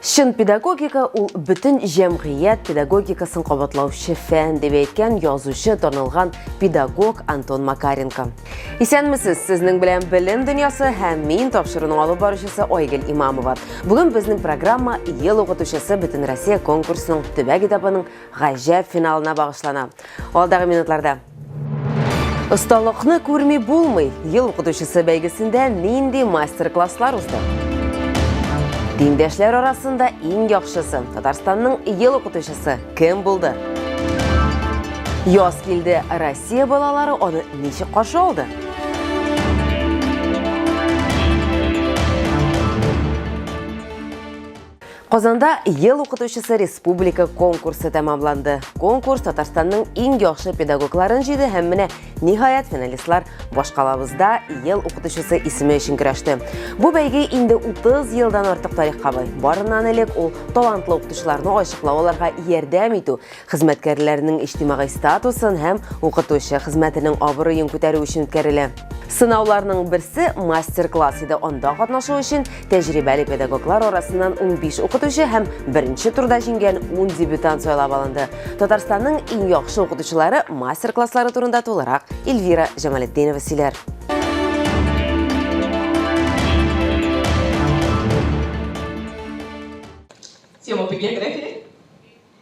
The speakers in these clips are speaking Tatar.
Чын педагогика ул бөтен җәмгыять педагогикасын кабатлаучы фән дип әйткән язучы танылган педагог Антон Макаренко. Исәнмесез, сезнең белән белем дөньясы һәм мин тапшыруның алып баручысы Айгөл Имамова. Бүген безнең программа Ел укытучысы Бөтенроссия конкурсының төбәк этабының гаҗәп финалына багышлана. Алдагы минутларда Осталыкны күрми булмый. Ел укытучысы бәйгесендә нинди мастер-класслар узды? Диңдәшләр арасында иң яхшысы Татарстанның ел укытучысы кем булды? Яз килде, Россия балалары аны ничек каршы алды? Казанда ел укытучысы республика конкурсы тәмамланды. Конкурс Татарстанның иң яхшы педагогларын җыйды һәм менә ниһаять финалистлар башкалабызда ел укытучысы исеме өчен көрәште. Бу бәйге инде 30 елдан артык тарихка бай. Барыннан элек ул талантлы укытучыларны ачыклау аларга ярдәм итү, Хезмәткәрләрнең иҗтимагый статусын һәм укытучы хезмәтенең абруен күтәрү өчен үткәрелә. Сынауларның берсе мастер-класс иде. Анда катнашу өчен тәҗрибәле педагоглар арасыннан 15 укытучы һәм беренче турда җиңгән 10 дебютант сайлап алынды. Татарстанның иң яхшы укытучылары мастер-класслары турында тулырак Эльвира Җамалетдинова сөйләр. Тема по географии.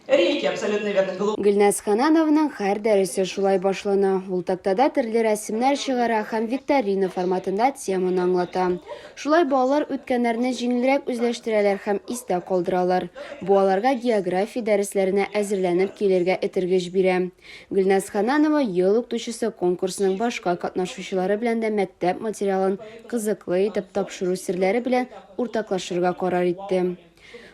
Рейки, абсолютно верно. Глу... Гөлназ Ханановның һәр дәресе шулай башлана. Ул тактада төрле рәсемнәр чыгара һәм викторина форматында теманы аңлата. Шулай балалар үткәннәрне җиңелрәк үзләштерәләр һәм истә калдыралар. Бу аларга география дәресләренә әзерләнеп килергә этергеч бирә. Гөлназ Хананова ел укытучысы конкурсының башка катнашучылары белән дә мәктәп материалын кызыклы итеп тапшыру серләре белән уртаклашырга карар итте.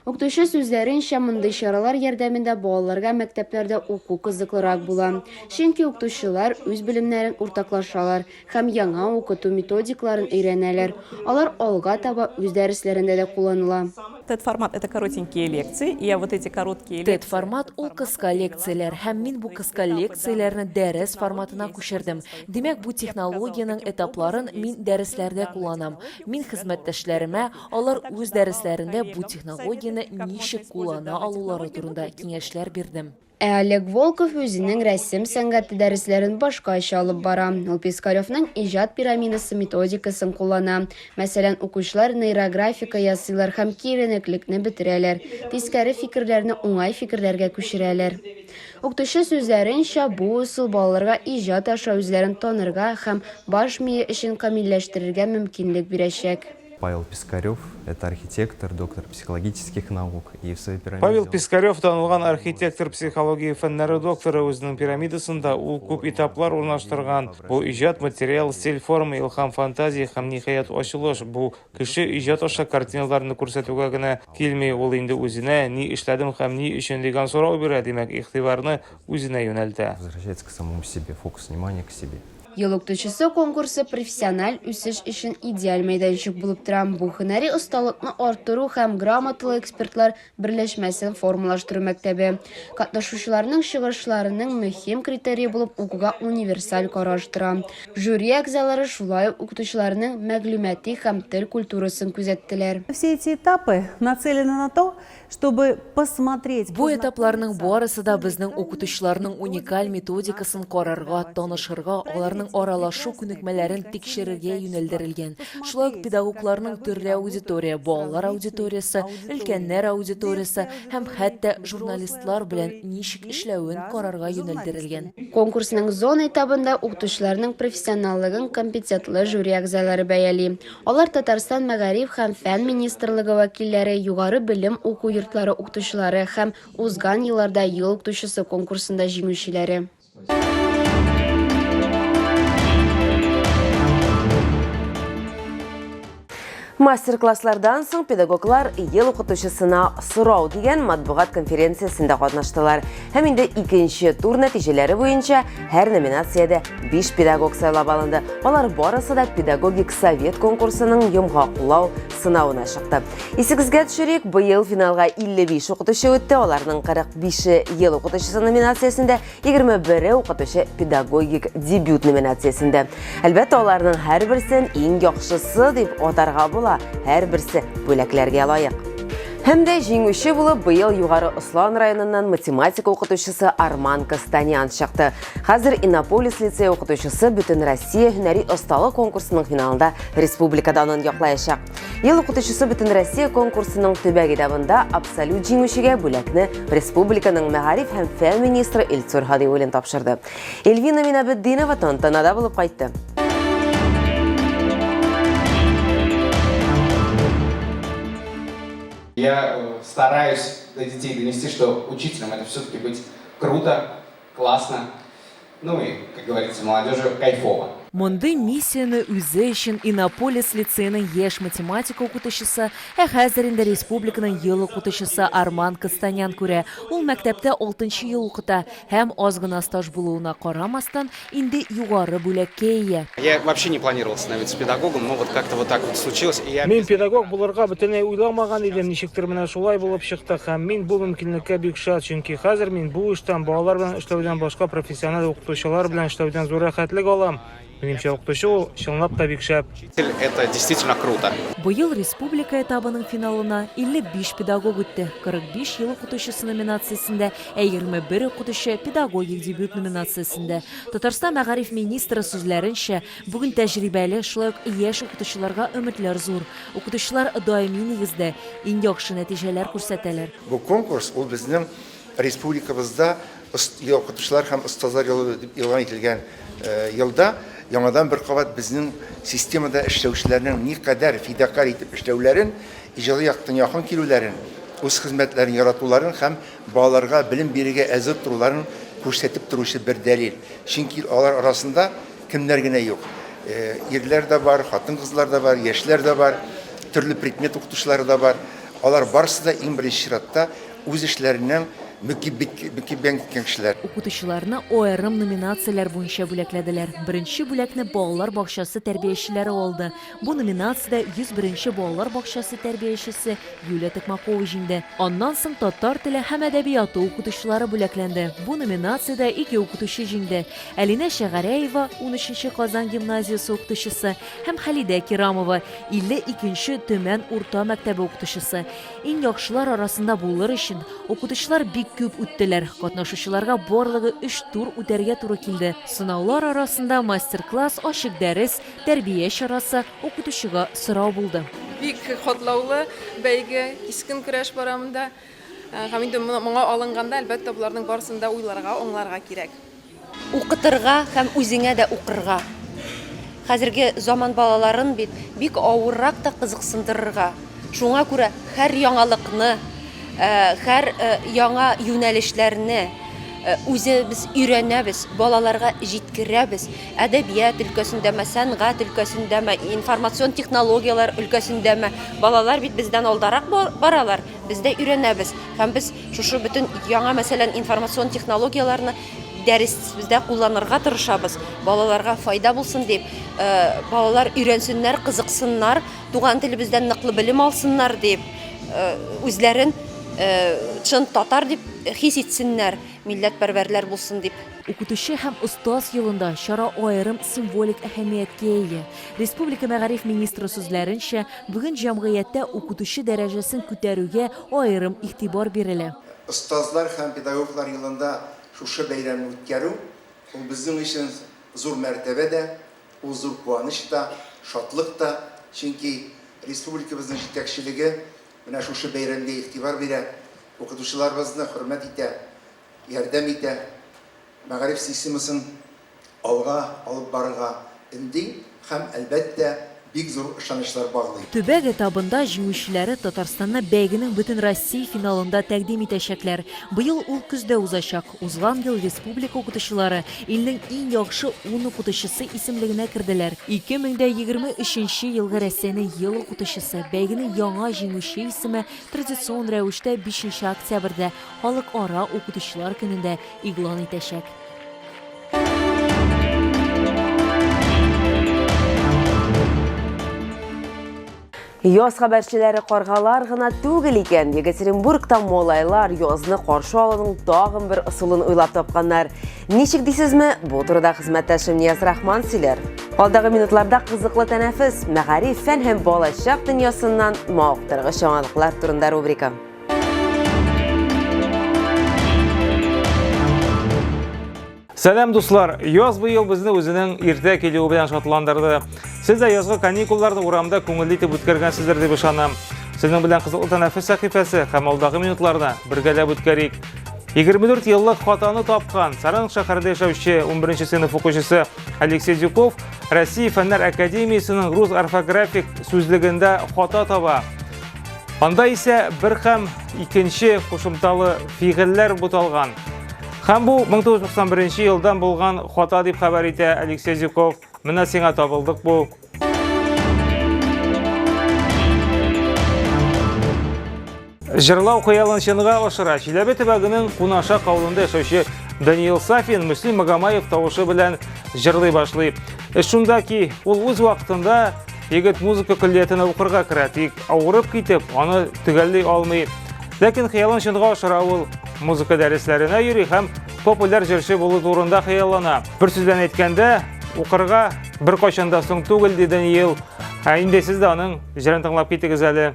Укытучы сүзләренчә, мондый чаралар ярдәмендә балаларга мәктәпләрдә уку кызыклырак була. Чөнки укытучылар үз белемнәрен уртаклашалар һәм яңа укыту методикаларын өйрәнәләр. Алар алга таба үз дәресләрендә дә кулланыла. TED-формат, это коротенькие лекции, и я вот эти короткие лекции. TED-формат, ул кыска лекцияләр, һәм мин бу кыска лекцияләрне дәрес форматына күчердем. Димәк, бу технологиянең этапларын мин дәресләрдә кулланам. Мин хезмәттәшләремә, Алар үз дәресләрендә бу технологияне ничек куллана алулары турында киңәшләр бирдем. Ә Олег Волков үзенең рәсем сәнгате дәресләрен башкача алып бара. Ул Пискаревның иҗат пирамидасы методикасын куллана. Мәсәлән, укучылар нейрографика ясыйлар һәм киеренеклекне бетерәләр, тискәре фикерләрне уңай фикерләргә күчерәләр. Укытучы сүзләренчә, бу ысул балаларга иҗат аша үзләрен танырга һәм баш мие эшен камилләштерергә мөмкинлек бирәчәк. Павел Пискарев, это архитектор, доктор психологических наук и в своей пирамиде. Павел Пискарев танылган архитектор, психология фәннәре докторы үзенең пирамидасында ул күп этаплар урнаштырган. Бу иҗат, материал, стиль, форма, илһам, фантазия һәм ниһаять ачылыш. Бу кеше иҗат аша картиналарны күрсәтүгә генә килми, ул инде үзенә, ни эшләдем һәм ни өчен дигән сорау бирә, димәк, игътибарны үзенә юнәлтә. Возвращается к самому себе, фокус внимания к себе. Ел укытучысы конкурсы профессиональ үсеш өчен идеаль мәйданчык булып тора. Бу һөнәри осталыкны арттыру һәм грамоталы экспертлар берләшмәсен формалаштыру мәктәбе. Катнашучыларның чыгышларының мөһим критерие булып укуга универсаль караш тора. Жюри әгъзалары шулай ук укытучыларның мәгълүмати һәм тел культурасын күзәттеләр. Все эти этапы нацелены на то, Чтобы посмотреть. Бу этапларның барысы да безнең укытучыларның уникаль методикасын карарга, танышырга, аларның аралашу күнекмәләрен тикшерергә юнәлдерелгән. Шулай ук педагогларның төрле аудитория, балалар аудиториясе, өлкәннәр аудиториясе һәм хәтта журналистлар белән ничек эшләвен карарга юнәлдерелгән. Конкурсның зона этабында укытучыларның профессионаллыгын компетентлы жюри әгъзалары бәяли. Алар Татарстан Мәгариф һәм фән министрлыгы вәкилләре, югары белем уку йортлары укытучылары һәм Узган елларда Ел укытучысы конкурсында җиңүчеләре. Мастер-класслардан соң педагоглар Ел укытучысына сорау дигән матбугат конференциясендә катнаштылар. Һәм инде икенче тур нәтиҗәләре буенча һәр номинациядә Биш педагог сайлап алынды. Алар барысы да педагогик совет конкурсының йомгаклау сынавына чыкты. Исегезгә төшерик, быел финалга 55 укытучы үтте, аларның 45-е ел укытучысы номинациясендә, 21-е укытучы педагогик дебют номинациясендә. Әлбәттә, аларның һәрберсен иң яхшысы дип атарга була, һәрберсе бүләкләргә лаек. Һәм дә җиңүче булып быел Югары Ослан районыннан математика укытучысы Арман Костанян чыкты. Хәзер Иннополис лицей укытучысы бөтен Россия һөнәри осталык конкурсының финалында республика данын яклаячак. Ел укытучысы бөтен Россия конкурсының төбәк этабында абсолют җиңүчегә бүләкне республиканың мәгариф һәм фән министры Илсур Хадиуллин тапшырды. Эльвина Минабетдинова тантанада булып кайтты. Я э, стараюсь до детей донести, что учителям это все-таки быть круто, Классно. Ну и, как говорится, молодежи кайфово. Мондый миссияне үзе өчен Иннополис лицееның яшь математика укытучысы, ә хәзер инде республиканың ел укытучысы Арман Кастанян күрә. Ул мәктәптә 6 ел укыта һәм аз гына стаж булуына карамастан, инде югары бүләккә ия. Я вообще не планировал становиться педагогом, но вот как-то вот так вот случилось, и я... Мин педагог булырга бөтенләй уйламаган идем, ничектер менә шулай булып чыкты, һәм мин бу мөмкинлеккә бик шат, чөнки хәзер мин бу эштән, балалар белән эшләүдән башка профессиональ укытучылар белән эшләүдән зур рәхәтлек алам. Минемчә, укытучы ул, чынлап та, бик шәп. Учитель, это действительно круто. Быел республика этабының финалына 55 педагог үтте. 45 ел укытучысы номинациясендә, ә 21 укытучы педагогик дебют номинациясендә. Татарстан мәгариф министры сүзләренчә, бүген тәҗрибәле, шулай ук яшь укытучыларга өметләр зур. Укытучылар даими нигездә иң яхшы нәтиҗәләр күрсәтәләр. Бу конкурс, ул безнең республикабызда укытучылар һәм остазлар елы дип игълан ителгән елда яңадан бер кабат безнең системада эшләүчеләрнең никадәр фидакарь итеп эшләүләрен, иҗади яктан якын килүләрен, үз хезмәтләрен яратуларын һәм Балаларга белем бирергә әзер торуларын күрсәтеп торучы бер дәлил. Чөнки алар арасында кемнәр генә юк. Ирләр дә бар, хатын-кызлар да бар, яшьләр дә бар, төрле предмет укытучылары да бар. Алар барысы да иң беренче чиратта үз эшләренең мөкиббән киткән кешеләр. Укытучыларны аерым номинацияләр буенча бүләкләделәр. Беренче бүләкне балалар бакчасы тәрбиячеләре алды. Бу номинациядә 101 нче балалар бакчасы тәрбиячесе Юлия Токмакова җиңде. Аннан соң татар теле һәм әдәбияты укытучылары бүләкләнде. Бу номинациядә ике укытучы җиңде, Әлинә Шәгәрәева, унөченче Казан гимназиясе укытучысы, һәм Хәлидә Кирамова, 52 нче Төмән урта мәктәбе укытучысы. Иң яхшылар арасында булыр өчен, укытучылар бик күп үттеләр, катнашучыларга барлыгы өч тур үтәргә туры килде. Сынаулар арасында мастер-класс, ачык дәрес, Тәрбия чарасы, укытучыга сорау булды. Бик катлаулы бәйге, кискен көрәш бара монда. Һәм инде моңа алынганда, әлбәттә, боларның барысын да уйларга, аңларга кирәк. Укытырга һәм үзеңә дә укырга. Хәзерге заман балаларын бит бик авыррак та кызыксындырырга. Шуңа күрә һәр яңалыкны, һәр яңа юнәлешләрне үзебез өйрәнәбез, балаларга җиткерәбез. әдәбият өлкәсендәме, сәнгать өлкәсендәме, информацион технологияләр өлкәсендәме, балалар бит бездән алдарак баралар, без дә өйрәнәбез. Һәм без шушы бөтен яңа, мәсәлән, информацион технологияләрне дәресебездә кулланырга тырышабыз. Балаларга файда булсын дип, э, балалар өйрәнсеннәр, кызыксыннар, туган телебездән ныклы белем алсыннар дип, э, үзләрен, э, чын татар дип хис итсеннәр, милләтпәрвәрләр булсын дип. Укытучы һәм остаз елында чара аерым символик әһәмияткә ия. Республика мәгариф министры сүзләренчә, бүген җәмгыятьтә укытучы дәрәҗәсен күтәрүгә аерым игътибар бирелә. Остазлар һәм педагоглар елында шушы бәйрәмне үткәрү, ул безнең өчен зур мәртәбә дә, ул зур куаныч та, шатлык та, чөнки республикабызның җитәкчелеге менә шушы бәйрәмгә игътибар бирә, укытучыларыбызны хөрмәт итә. ярдәм итә, мәгариф системасын алга алып барырга өнди һәм, әлбәттә, бик зур ышанычлар баглый. Төбәк этабында җиңүчеләре Татарстанны бәйгенең Бөтенроссия финалында тәкъдим итәчәкләр. Быел ул көздә узачак. Узган ел республика укытучылары илнең иң яхшы ун укытучысы исемлегенә керделәр. 2023 нче елгы Рәсәйнең Ел укытучысы, бәйгенең яңа җиңүче исеме традицион рәвештә бишенче октябрьдә, Халыкара укытучылар көнендә игълан итәчәк. Яз хәбәрчеләре каргалар гына түгел икән. Екатеринбургта молайлар язны каршы алуның тагын бер ысулын уйлап тапканнар. Ничек дисезме? Бу турыда хезмәттәшем Нияз Рахман сөйләр. Алдагы минутларда кызыклы тәнәфес, мәгариф, фән һәм балачак дөньясыннан мавыктыргыч яңалыклар турында рубрика. Сәләм дуслар! Яз быел безне үзенең иртә килүе белән шатландырды. Сез дә язгы каникулларны урамда күңелле итеп үткәргәнсездер дип ышанам. Сезнең белән кызыклы тәнәфес сәхифәсе һәм алдагы минутларны бергәләп үткәрик. 24 еллык хатаны тапкан Саран шәһәрендә яшәүче 11 сыйныф укучысы Алексей Дюков Россия фәннәр академиясенең рус орфографик сүзлегендә хата таба. Анда исә бер һәм икенче кушымталы фигыльләр буталган. Һәм бу 1991 елдан булган хата дип хәбәр итә Алексей Зюков. Менә сиңа табылдык бу. Җырлау хыялын чынга ашыра. Чиләбе төбәгенең Кунаша кавылында яшәүче Даниил Сафин Мөслим Магомаев тавышы белән җырлый башлый. Эш шунда ки, ул үз вакытында Егет музыка көллиятенә укырга керә, тик авырып китеп, аны төгәлли алмый. Ләкин хыялын чынга ашыра ул. Музыка дәресләренә йөри һәм популяр җырчы булу турында хыяллана. Бер сүз белән әйткәндә, укырга бер кайчан да соң түгел, ди Даниил. Ә инде сез дә аның җырын тыңлап китегез әле.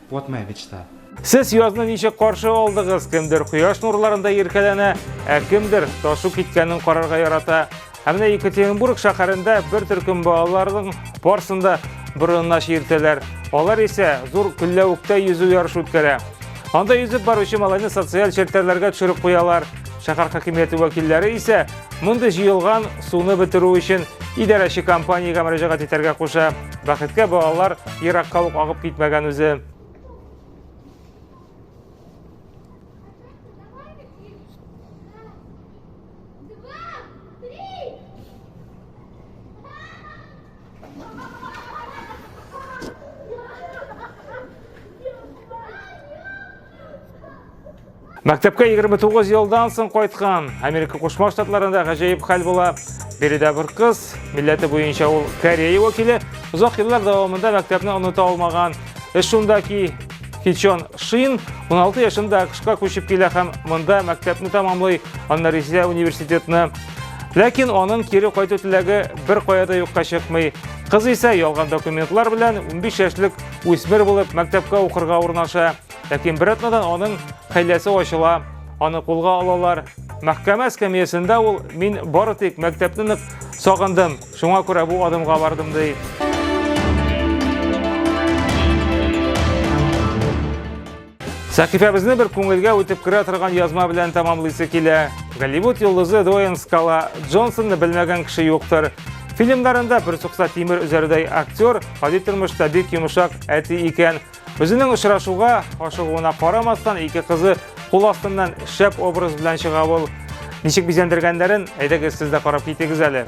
Вот моя мечта. Сез язны ничек каршы алдыгыз? Кемдер кояш нурларында иркәләнә, ә кемдер ташу киткәнен карарга ярата. Ә менә Екатеринбург шәһәрендә бер төркем балаларның парсында борынына чиертәләр. Алар исә зур көлләвектә йөзү ярышы үткәрә. Анда йөзеп баручы малайны социаль челтәрләргә төшереп куялар. Шәһәр хакимияте вәкилләре исә Мондый җыелган суны бетерү өчен идарәче компаниягә мөрәҗәгать итәргә куша. Бәхеткә балалар еракка ук агып китмәгән үзе. Мәктәпкә 29 елдан соң кайткан Америка Кушма Штатларында гаҗәеп хәл була. Биредә бер кыз, милләте буенча ул Корея вәкиле, озак еллар дәвамында мәктәпне оныта алмаган. Эш шунда ки, Хичон Шин 16 яшында АКШка күчеп килә һәм монда мәктәпне тамамлый, аннан Ризә университетны. Ләкин аның кире кайту теләге бер кая да юкка чыкмый. Кыз исә ялган документлар белән 15 яшьлек Үсмер булып мәктәпкә укырга урнаша, ләкин бер атнадан аның хәйләсе ачыла, аны кулга алалар. Мәхкәмә эскәмиясендә ул мин бары тик мәктәпне нык сагындым, шуңа күрә бу адымга бардым ди. Сәхифәбезне бер күңелгә үтеп керә торган язма белән тәмамлыйсы килә. Голливуд йолдызы Дуэйн Скала Джонсонны белмәгән кеше юктыр. Фильмнарында бер сукса тимер үзәрдәй актер, гади тормышта бик йомшак әти икән. Үзенең очрашуга ашыгуына карамастан, ике кызы кул астыннан шәп образ белән чыга ул. Ничек бизәндергәннәрен әйдәгез сез дә карап китегез әле.